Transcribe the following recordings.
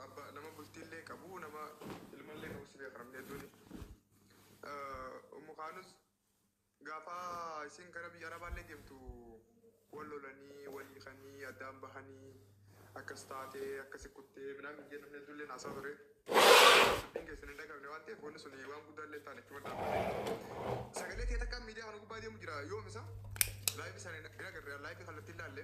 Abba nama bultiillee qabu nama ilmallee qabu si beeka namni hedduun. Ummu kaanus gaafa isin gara biyya arabaallee deemtu wal lolanii wal hiikanii addaan bahanii akkas taatee akkasi kuttee minaamin jee namni hedduullee naasaa ture. Dubbiin keessan hin dhagabne waan ta'eef wanni sun waan guddaa illee hin taane itti maddaa. Sagalee ta'e takka miidiyaa kana gubbaa deemu jira yoomisa laayifi sana hin agarre laayifi kallattiin ilaalle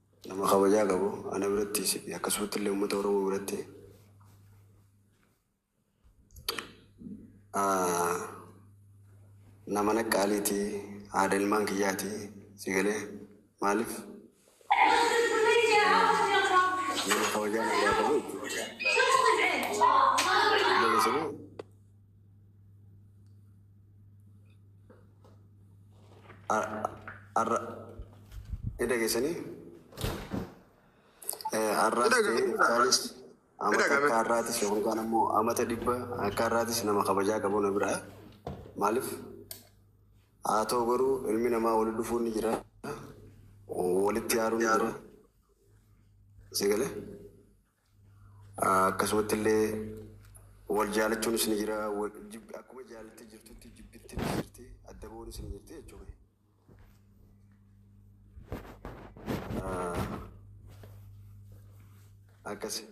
Nama kabajaa qabu ana birattis akkasumatti illee uummata Oromoo biratti nama naqqaaliiti haadha ilmaan kiyyaati si galee maaliif nama kabajaa nagaa qabu jechuudha. Arra ni dhageessanii? Arraas Ni dhaga'ama, ta'ee ni dhaga'ama. isaanis Ni amata dhaga'ama. akka har'aatis yookaan ammoo amata dhibba akka har'aatis nama kabajaa qabu na biraa. Maaliif? Haa ta'u garuu ilmi namaa walitti dhufuun ni jira. Walitti aaruun ni jira. Si galee? Akkasumatti illee wal jaalachuunis ni jira. Akkuma jaalattee jirtutti jibbitti ni jirti. Adda ba'uunis ni jirti jechuudha. Akkasi.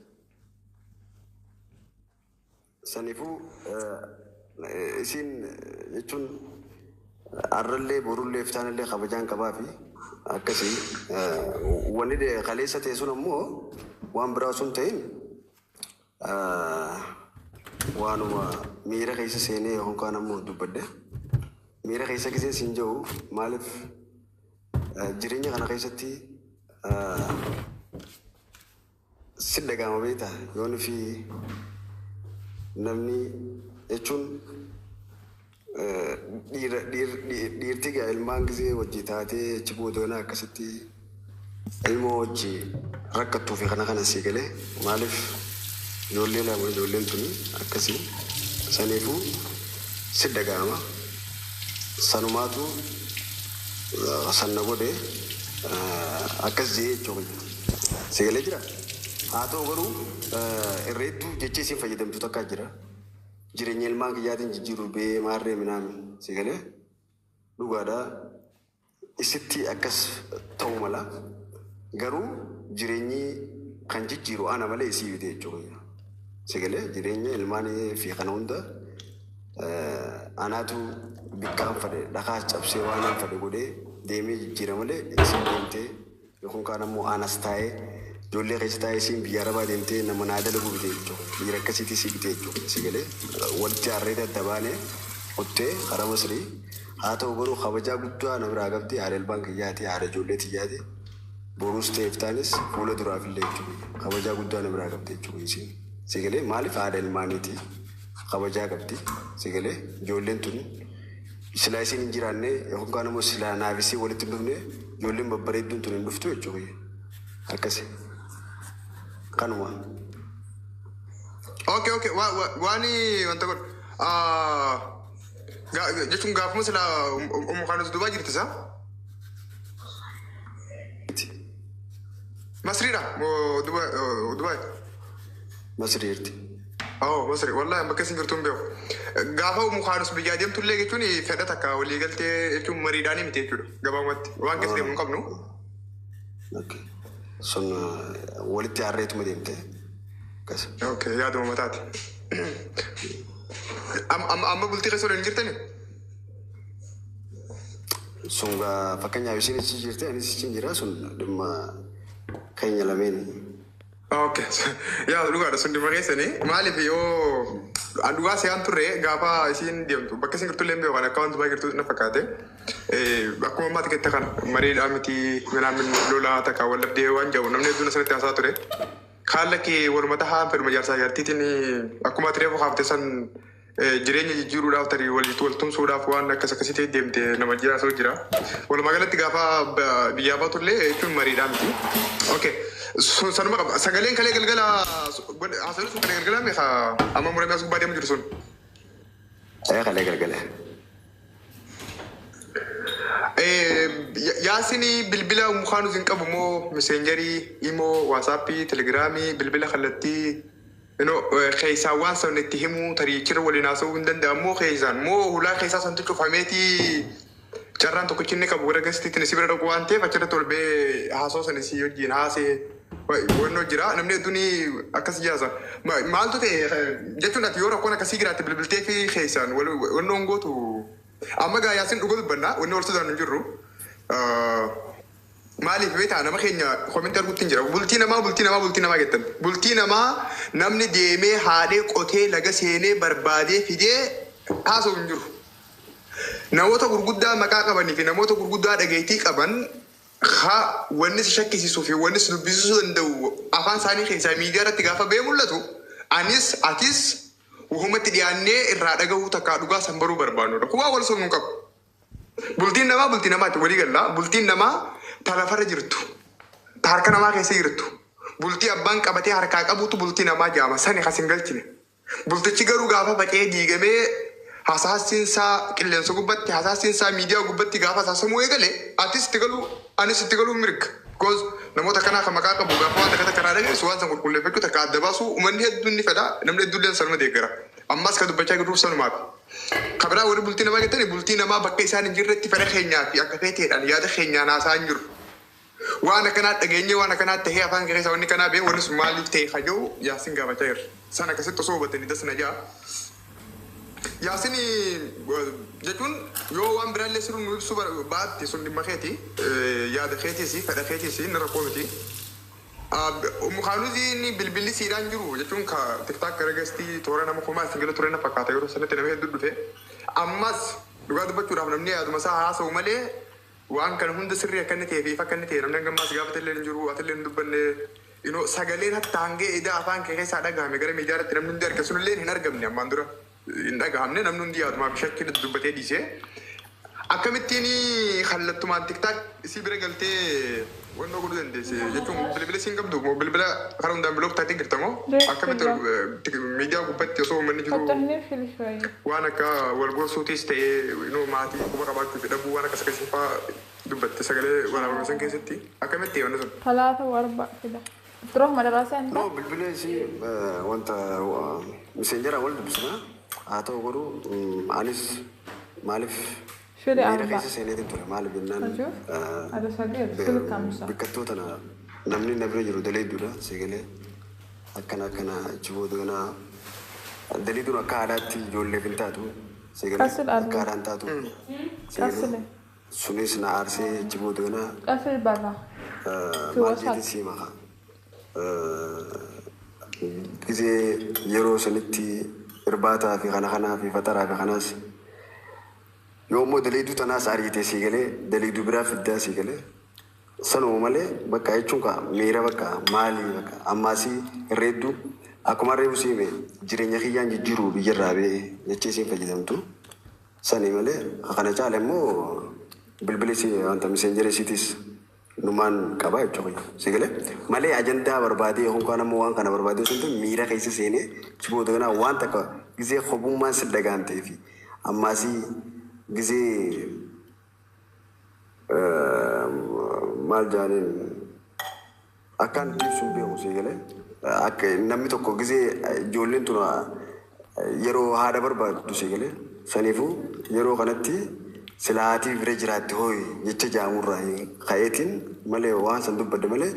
Sanifuu isiin jechuun arrallee borullee iftaanallee kabajaan qabaafi akkasi wani kaleessa ta'e sun ammoo waan biraa osoo hin ta'in waanuma miira keessa seenee yookaan kaan ammoo dubbadhe miira keessa giseen siin jedhu maaliif jireenya kana keessatti Sitti dhaga'ama beektaa? Yoo nufi namni jechuun dhiira dhiirti gaa ilmaan gizee wajji taatee achi booda yoona akkasitti ilmoo wajji rakkattuu fi kana kana sii galee maaliif ijoollee lama ijoolleen tuni akkasii saniifuu sitti dhaga'ama sanumaatu san na godhe akkas je'ee jechuu kiyya. Si galee jira? Haa ta'u garuu irreettuu jecha isin fayyadamtu takkaa jira. Jireenya ilmaan kiyyaatiin jijjiiru bee maarree minaami. Si galee? Dhugaadha. Isitti akkas ta'uu mala. Garuu jireenyi kan jijjiiru ana malee isii miti jechuudha. Si galee? Jireenya ilmaanii fi kana hunda anaatu bikkaan fadhe dhakaas cabsee waan hin fadhe godhee deemee jijjiira malee isin deemtee Kun kaan ammoo aan as taa'ee ijoollee keessa taa'ee isiin biyya arabaa deemtee nama naa dalaguu bitee jechuun dhiira akkasiitii sii bitee jechuun sii galee walitti aarree adda baanee kuttee karaa masrii haa ta'u garuu kabajaa guddaa na biraa qabdi haadha ilmaan kiyyaati haadha ijoollee tiyyaati boruus ta'e iftaanis fuula duraaf illee jechuun kabajaa guddaa na biraa qabdi jechuun isiin sii galee maaliif haadha ilmaaniiti kabajaa qabdi sii galee ijoolleen tun Silaa isiin hin jiraanne yookaan immoo silaa naaf isiin walitti hin dhufne ijoolleen babbareedduun tun hin dhuftu jechuu kiyya. Akkasi. Kanuma. Okay, okay. Wa, wa, wani wanta kun. Ah, ga, ga- jechuun gaafuma sila um, um, um, kan duubaa jirti isaa. Masriidha. Dubai. Dubai. Masrii jirti. Oo Masri wallahi bakka isin jirtu hin beeku. Gaafa umu kaanus biyyaa deemtu illee jechuun fedha takka walii galtee jechuun mariidhaan miti jechuudha. Gabaabumatti waan keessa deemu hin qabnu. Okay. Sun eh, walitti harreetuma deemte. Akkas. Okay, yaaduma mataati. Am- am- Amma bultii keessa waliin jirtani? Sun gaa fakkeenyaaf isin ichi jirte anis ichi jira sun dhimma keenya lameen Okay. Yaa dhugaadha sun dhimma keessani. Maaliif yoo an dhugaa se'aan turre gaafa isiin deemtu bakka isin jirtu illee hin beeku kan akka wanti baay'ee jirtu na fakkaate. Eh, Akkuma ammaati kette kana mariidhaa miti minaamin lolaa takka wal dhabdee waan jedhu namni hedduun asirratti haasaa ture. Kaan lakkee walumata haan fedhuma jaarsaa jaartiitiin akkuma ati reefu haafte san Jireenya jijjiiruudhaaf tarii walitti wal tumsuudhaaf waan akkas akkasii ta'e deemte nama jiraatu jira. Walumaa galatti gaafa ba- biyyaa baatu illee jechuun mariidhaa miti. Okay. Sun sanuma qaba. Sagaleen kalee galgala haasawni sun kalee galgalaa meeqa amma muramee as gubbaa deemu jiru sun. Ee kalee galgala. Eh, ya- Yaasini bilbila mukaanus hin qabu moo meseenjarii, imoo, waasaappii, telegiraamii, bilbila kallattii Ino keessaan waan san itti himuu tarii achirra waliin haasa'uu hin danda'an moo keessaan moo hulaa keessaa santu cufameeti carraan tokkichi inni qabu gara gastiitiin si bira dhaquu waan ta'eef achirratti ol ba'ee haasoo san isii wajjin haasee wannoo jira namni hedduun akkas jaasa Ma- maaltu ta'e eh, jechuun ati yoo rakkoon akkasii jiraatte bilbiltee fi keessaan wal- wannoon gootu amma gaa yaasin dhuga dubbanna wanni wal sodaannu hin jirru. Ah, Maaliif beektaa nama keenya comment arguutti hin jira bultii namaa bultii namaa bultii namaa jettan bultii namaa namni deemee haadhee qotee laga seenee barbaadee fidee haasa'u hin jiru namoota gurguddaa maqaa qabanii fi namoota gurguddaa dhageettii qaban ha wanni si shakkisiisuu fi wanni si dubbisisuu danda'u afaan isaanii keessaa miidiyaa irratti gaafa ba'ee mul'atu anis atis wahumatti dhiyaannee irraa dhagahuu takkaa dhugaa san baruu barbaannudha kumaa wal sobnu hin qabu. Bultiin namaa bultii namaati walii galla. Bultiin namaa ta lafarra jirtu, ta harka namaa keessa jirtu, bultii abbaan qabatee harkaa qabutu bultii namaa jaama. Sani kasin galchine. Bultichi garuu gaafa faca'ee diigamee hasaassiin isaa qilleensa gubbatti, hasaassiin isaa miidiyaa gubbatti gaafa hasaasamuu eegale atis itti galuu anis itti galuun mirga. Because namoota akkanaa kan maqaa qabu gaafa waan takka takka irraa dhageessu waan san qulqulleeffachuu takka adda baasuu uummanni hedduun ni fedha, namni hedduulleen sanuma deeggara. Ammas kan dubbachaa jirruuf sanumaaf. Ka biraa warri bultii namaa jettani bultii namaa bakka isaan hin jirretti fedha keenyaa fi akka feeteedhaan yaada keenyaan haasa'aa hin jirru. Waan akkanaa dhageenyee waan akkanaa tahee afaan kee keessaa wanni akkanaa bahee wanni sun maaliif tahe ka jedhu Yaasin gaafachaa jirra. San akkasitti osoo hubattanii das na ja'a. Yaasin jechuun yoo waan biraa illee sirri nu ibsuu baatte sun dhimma keeti. Yaada keetiis fedha keetiis inni rakkoo miti. Ummu kaanuzii inni bilbilli siidhaa hin jiru jechuun ka tiktak gara gestii toora nama kumaa isin gala ture na fakkaata yeroo sanatti nama heddu dhufe ammas dhugaa dubbachuudhaaf namni yaaduma isaa haa haasa'u malee waan kana hunda sirrii akka inni ta'e fi ifa akka inni ta'e namni hanga ammaas gaafate illee hin jiru ati illee hin dubbanne inoo sagaleen hatta hangee idaa afaan kee keessaa dhagahame gara miidiyaa irratti namni hundi arge sun illee hin argamne ammaan dura hin dhagahamne namni hundi yaadumaa fi shakkii natti dubbatee dhiise. Akkamittiin kallattumaan tiktaak isii bira galtee wannoo godhuu dandeesse jechuun bilbila isii hin qabdu moo bilbila kara hundaan bilook taatee jirta moo akkamitti miidiyaa gubbatti osoo uummanni jiruu waan akka wal gorsuutiis ta'ee you know maatii quba qabaachuu fi dhabuu waan akkas akkasii faa dubbatte sagalee waraabame san keessatti akkamitti wanni sun. Talaata warba fida. Bro madaraa seentaa. Bro bilbilee si wanta miseenjera wal dubbisna haa ta'u garuu mm, anis maaliif Shiri miira Arba. keessa seeneetiin ture maaliif jennaan Hajuu. eh, Ada sagir. be- Sili kamsa. bikkattuu tana namni na bira jiru daleedduudha seegalee akkana akkana achi booda ganaa daleedduun akka aadaatti ijoolleef hin taatu seegalee Qasil Arba. akka aadaan taatu seegalee Qassile. Sunis na aarsee achi booda ganaa. Qasir barra. Fi Maal jeetiin wasaq. sii maka. Gizee yeroo sanitti irbaataa fi kana kanaa fi faxaraa fi kanaas yoo immoo daleeyduu tanaas ariitee sii galee daleeyduu biraa fiddaa sii galee sanuma malee bakka jechuun kaa miira bakka maali bakka ammaasii reeddu akkumaan reefu sii hime jireenya kiyyaan jijjiruu biyyarraa bee jechee isiin fayyadamtu. Sani malee ka kana caale immoo bilbili si wanta messengerii sitis numaan qaba jechuu kiyya. Si galee? Malee ajandaa barbaadee yookiin kaan ammoo waan kana barbaadee osoo hin ta'in miira keessa seenee achi booda ganaa waan takka gizee kobummaan si dhaga'amtee fi ammaasii gizee Maal jaaniin akkaan itti ibsuun beeku sii galee. Akka namni tokko gizee ijoolleen tun yeroo haadha barbaaddu sii galee. Saniifuu yeroo kanatti sila haatii bira jiraatti hooyi jecha jaamurraa ka'eetiin malee waan san dubbadde malee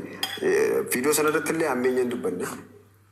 fiidoo sanarrattillee hammeenyaan dubbanne.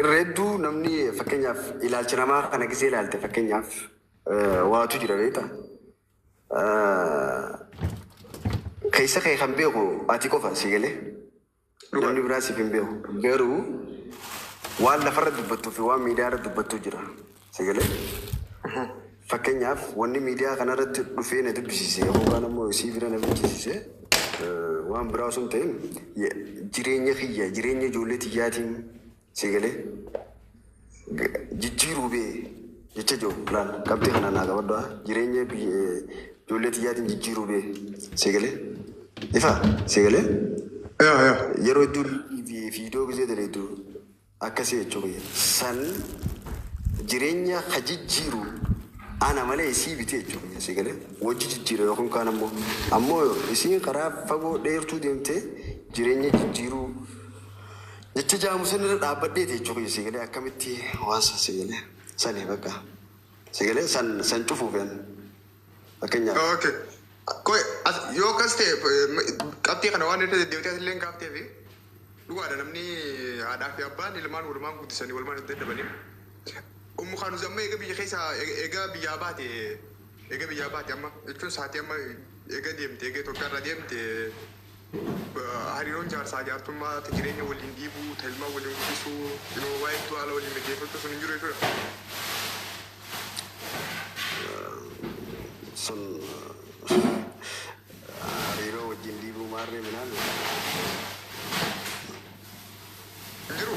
Irra hedduu namni fakkeenyaaf ilaalcha namaa kana gisee ilaalte fakkeenyaaf eh, waatu jira beekta. Eh, Keessa kee kan beeku ati qofa si galee Dhugaa. namni biraa siif hin beeku. Garuu waan lafarra dubbattuu fi waan miidiyaarra dubbattu jira. Sagalee. Fakkeenyaaf wanni miidiyaa kanarratti dhufee na dubbisiise yookaan ammoo isii bira na bilchisiise waan biraa osoo hin ta'in jireenya kiyya jireenya ijoollee tiyyaatiin sagalee jijjiiruu bee jecha jiru laal qabxii kana naa qabadhu jireenya ijoollee tiyyaatiin jijjiiruu bee sagalee ifa sagalee yeroo hedduu fiidoo gisee daleedu Akkasi jechuu kiyya. San jireenya ka jijjiiru ana malee isii biti jechuu kiyya. Sii galee? Wajji jijjiira yookiin kaan ammoo. Ammoo yo isiin karaa fagoo dheertuu deemte jireenya jijjiiruu jecha jaamu san irra dhaabbadheeti jechuu kiyya. Sii galee? Akkamitti waan san sii galee? Sani bakka. Sii galee? San san cufuufi an. Fakkeenyaaf. Okay. Koi as yoo akkas ta'e qabxii kana waan irra deddeebitee asillee hin kaaftee fi dhugaadha namni haadhaa fi abbaan ilmaan walumaan guddisanii walumaan hin dadhabanii. Ummu Kaanuz amma eega biyya keessa eega biyyaa baate eega biyyaa baate amma jechuun saatii amma eega deemte eega Itoophiyaa irraa deemte Hariiroon jaarsaa jaartummaa ta jireenya waliin dhiibuu, ta ilmaan waliin guddisuu, you know, waa hedduu haala waliin mijeeffachuu sun hin jiru jechuudha. Sun hariiroo wajjin dhiibuu maarree minaan Hin jiru.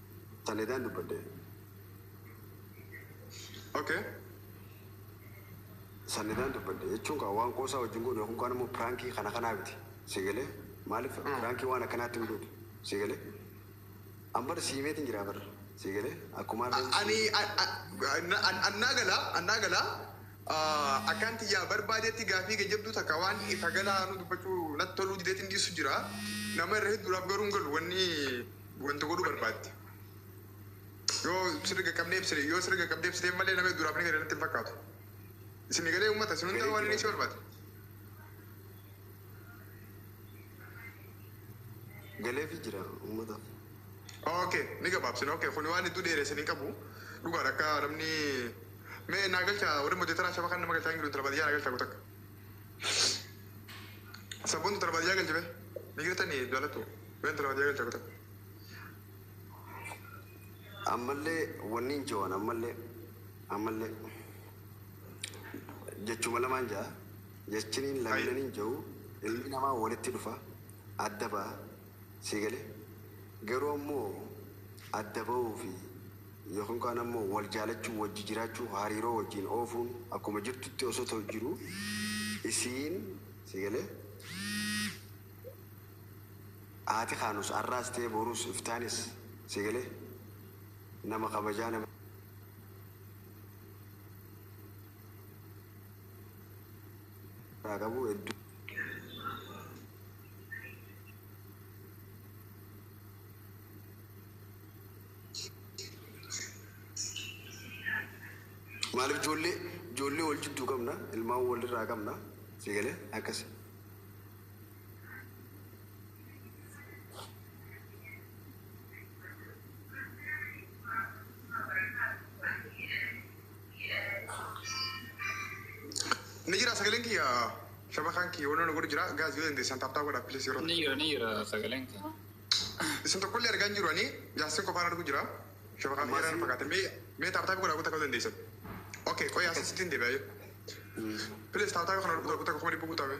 Taledaan dubbadde. Okay. Sanidaan dubbadde jechuun kaa waan qoosaa wajjin goone yookiin kaan immoo piraankii kana kanaa miti. Si galee maaliif piraankii waan akkanaatti hin goone. Si galee an bara si himeetiin jira bara. Si galee akkuma harreen Ani annaa gala annaa gala akkaan tiyyaa barbaadeetti gaafii gajjabduu takka waan ifa galaa nu dubbachuu natti toluu dideetiin dhiisu jira. Nama irra hedduudhaaf garuu hin galu wanni wanta godhuu barbaadde. Yoo sirri qaqqabnee ibsine, yoo sirri qaqqabnee ibsine malee namni duraaf ni gale natti hin fakkaatu. Isin galee uummata isin hundaa waan inni si barbaade. Galeefi jira uummata. Okay, ni gabaabsina. Okay, kun waan hedduu dheeressan hin qabu. Dhugaadha akka namni mee naa galcha warri modeetaraa shaba kan nama galchaa hin jiru intala baadiyyaa naa galchaa kutakka. Sabboontu tana baadiyyaa galche bee. Migiratani jaalattu. Been tana baadiyyaa galche kutaa. Ammallee wannin jewan ammallee ammallee jechuma lamaan ja'a jechiniin Hayi. laminan hin je'u ilmi namaa walitti dhufa adda ba'a Sii galee? Garuu ammoo adda bahuu fi yookiin kaan ammoo wal jaalachuu, wajji jiraachuu, hariiroo wajjiin oofuun akkuma jirtutti osoo ta'u jiru isiin, sii galee? Haati kaanus arraas ta'ee boruus iftaanis, sii galee? Nama kabajaa, nama. irraa qabu hedduu. Maaliif ijoollee ijoollee wal jidduu qabna ilmaan walirraa qabna si galee akkasi. Ni jira sagaleen kiyya shabakaan kiyya wannoon godhu jira gaazii yoo dandeessan taaptaa godha pilis yeroo Ni jira ni jira sagaleen kee. isin tokkollee argaa hin jiru ani jaarsin qofaan argu jira shabakaan kiyya irraan fakkaate mee mee taaptaa godha guutaa ka'uu dandeessan. Okee qoyaa sittiin deebi'aa jiru. Pilis taaptaa kana guutaa guutaa kuma dhibbu guutaa mee.